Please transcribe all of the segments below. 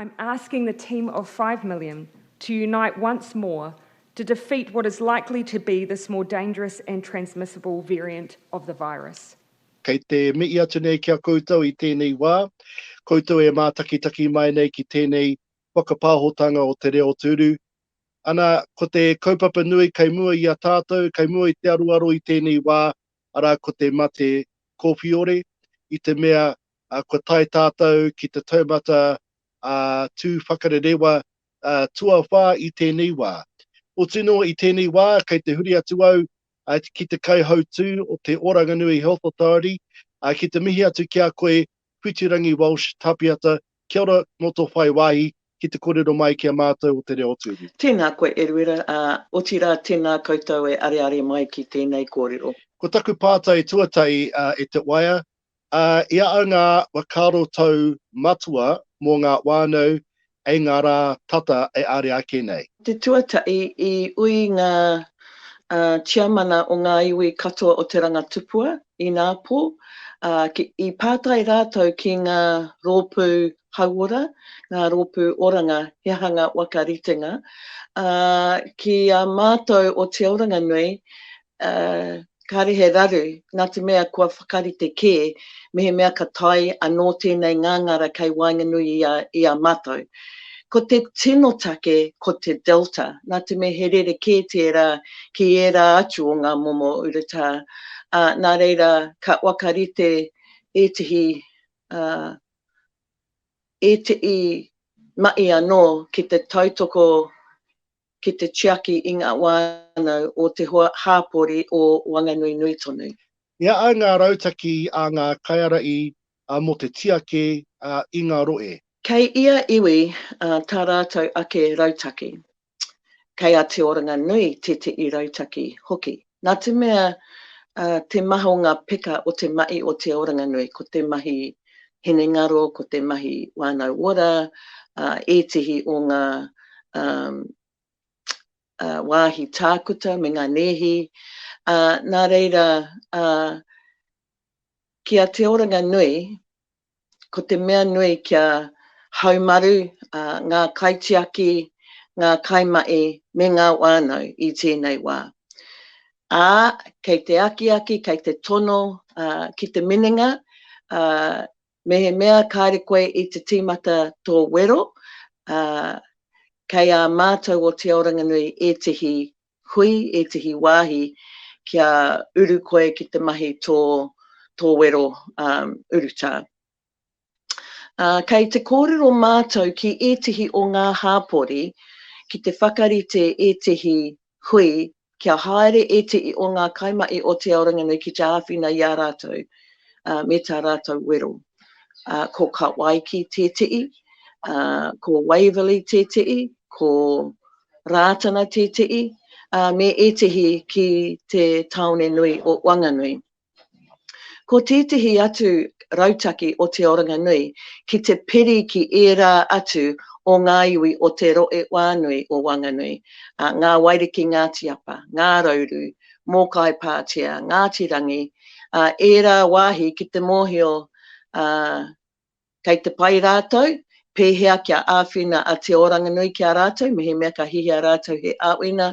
I'm asking the team of five million to unite once more to defeat what is likely to be this more dangerous and transmissible variant of the virus. Kei te mihi atu nei ki a koutou i tēnei wā, koutou e mātakitaki mai nei ki tēnei whakapāhotanga o te reo tūru, Ana, ko te kaupapa nui kei mua i a tātou, kei mua i te aroaro i tēnei wā, arā ko te mate kōwhiore, i te mea kua tae tātou ki te taumata tū whakarerewa tuawhā i tēnei wā. Otu noa i tēnei wā, kei te huri atu au ki te kaihautū o te Oranganui Health Authority ki te mihi atu ki a koe Whitirangi Walsh Tapiata Kia ora mo to whai wahi ki te korero mai ki a matou o te reo o Tuhi. Tēnā koe Eruera, ā, otirā tēnā koutou e areare mai ki tēnei kōrero. Ko taku pātai tuatahi e te waea, ā, i a au ngā whakaarotau matua mō ngā whānau Hei ngā rā tata e are ake nei. Te tuatahi i ui ngā tiamana o ngā iwi katoa o Te Rangatupua i ngā pō, ā, i pātai rātou ki ngā rōpū hauora, ngā rōpū oranga, he aha ngā waka ritenga, ā, ki a mātou o Te Oranganui, ā, kāre he raru, nā te mea kua whakarite kē mehemea ka tae anō tēnei ngāngara kei waenganui i a, i a mātou. Ko te tino take ko te Delta, nā te mea he rerekē tērā ki ērā atu o ngā momo urutā, ā, nā reira ka whakarite ētehi, ā, ētehi mahi anō ki te tautoko ki te tiaki i ngā whānau o te hoa hāpori o Wanganui nui tonu. Mea ai ngā rautaki a ngā kaiarahi mō te tiaki i ngā rohe. Kei ia iwi tā rātou ake rautaki. Kei a Te Oranganui tētehi rautaki hoki. Nā te mea te maha o ngā peka o te mahi o Te Oranganui, ko te mahi hinengaro, ko te mahi wānau ora, ētehi o ngā wāhi tākuta me ngā nēhi, nā reira, ki a Te Oranganui, ko te mea nui kia haumaru ngā kaitiaki, ngā kaimahi me ngā whānau i tēnei wā. Ā, kei te akiaki, kei te tono ki te minenga, mehemea kāre koe i te tīmata tō wero, kei ā mātou o Te Aoranganui ētehi hui ētehi wāhi kia uru koe ki te mahi tō tō wero urutā. Kei te kōrero mātou ki ētehi o ngā hāpori ki te whakarite ētehi hui kia haere ētehi o ngā kaimahi o Te Aoranganui ki te āwhina i a rātou me tā rātou wero. Ko Kawaiki tētehi, ko Waverley tētehi, ko. Rātana Tēteʻi, ā, me ētehi ki te tāone nui o Wanganui. Ko tētehi atu rautaki o Te Oranganui ki te peri ki ērā atu o ngā iwi o Te Roʻewānui o Wanganui, a, Ngā Wairiki Ngāti Apa, Ngā Rauru, Mōkai Pātea, Ngāti Rangi, ā, ērā wāhi ki te mōhio, ā, Kei te pai rātou, pēhea kia āwhina a Te Oranganui ki a rātou mehemea ka hihia rātou he āwhina,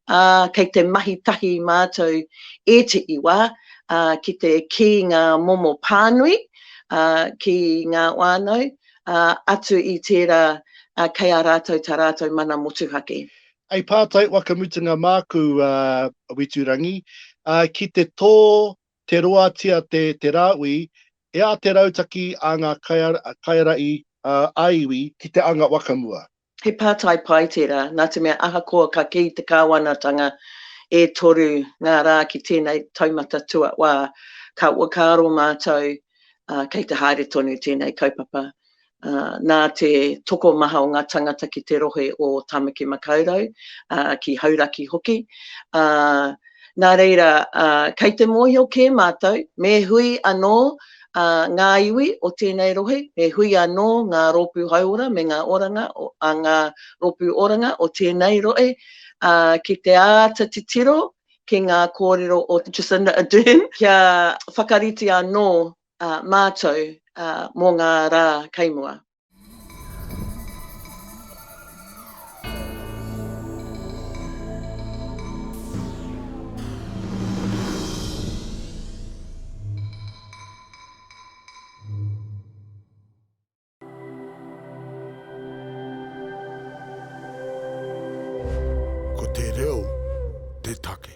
ā, kei te mahi tahi mātou ētehi wā, ā, ki te kī ngā momo pānui, ā, ki ngā whānau, ā, atu i tērā, ā, kei a rātou tā rātou mana motuhake. Hei pātai whakamutunga māku, ā, Witurangi, ā, ki te tō Te roatia te te rāui, e a te rautaki a ngā kaiara'i ā-iwi ki te anga whakamua. He pātai pai tērā, nā te mea ahakoa ka kī te Kāwanatanga e toru ngā rā ki tēnei taumata tuawhā, ka whakaaro mātou kei te haere tonu tēnei kaupapa. Nā te tokomaha o ngā tangata ki te rohe o Tāmaki Makaurau, ki Hauraki hoki, nā reira, kei te mōhio kē mātou, me hui anō ngā iwi o tēnei rohe, me hui anō ngā rōpū hauora me ngā oranga, ngā rōpū oranga o tēnei rohe, ki te āta titiro ki ngā kōrero o Jacinda Ardern, kia whakarite anō mātou mō ngā rā kei mua. Ko te reo te take.